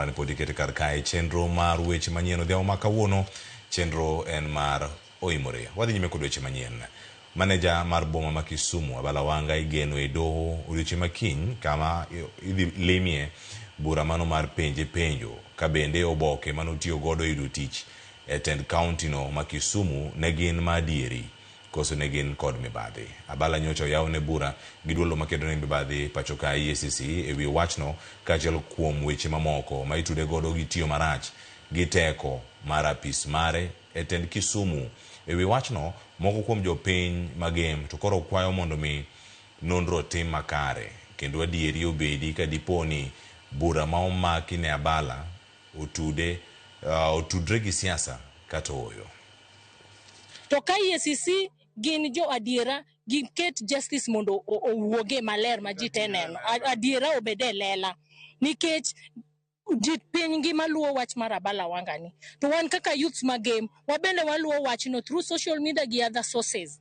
mane pod ikete kar kae. Chenro mar weche manyien odhiambo ma kawuono, chenro en mar Oimore. Wadhi nyime kod weche manyien. Maneja mar boma ma Kisumu, Abala Wanga igeno e doho odiochieng' ma kiny kama idhi limie bura mano mar penje penjo ka bende oboke manotiyo godo e yudo tich e tend kaunti no ma Kisumu ne gin ma adieri. Koso ne gin kod mibadhi. Abala nyocha oyaw ne bura gi duolno makedo ne mibadhi pachoka EACC ewi wachno kaachiel kuom weche mamoko ma itude godo gi tiyo marach gi teko mar apis mare e tend Kisumu. Ewi wachno moko kuom jopiny magem to koro kwayo mondo mi nonro otim makare kendo adieri obedi ka dipo ni bura ma omaki ne Abala otude otudre gi siasa kata ooyo. To ka EACC gin jo adiera, giket justice mondo o- owuoge maler ma ji te neno. A- Adiera obed e lela. Nikech ji piny ngima luwo wach mar Abala Wanga ni. To wan kaka youths ma game, wabende waluwo wachno through social media gi other sources.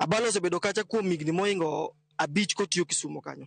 Abalo osebedo kacha kuom higni moingo abich kotiyo Kisumo kanyo.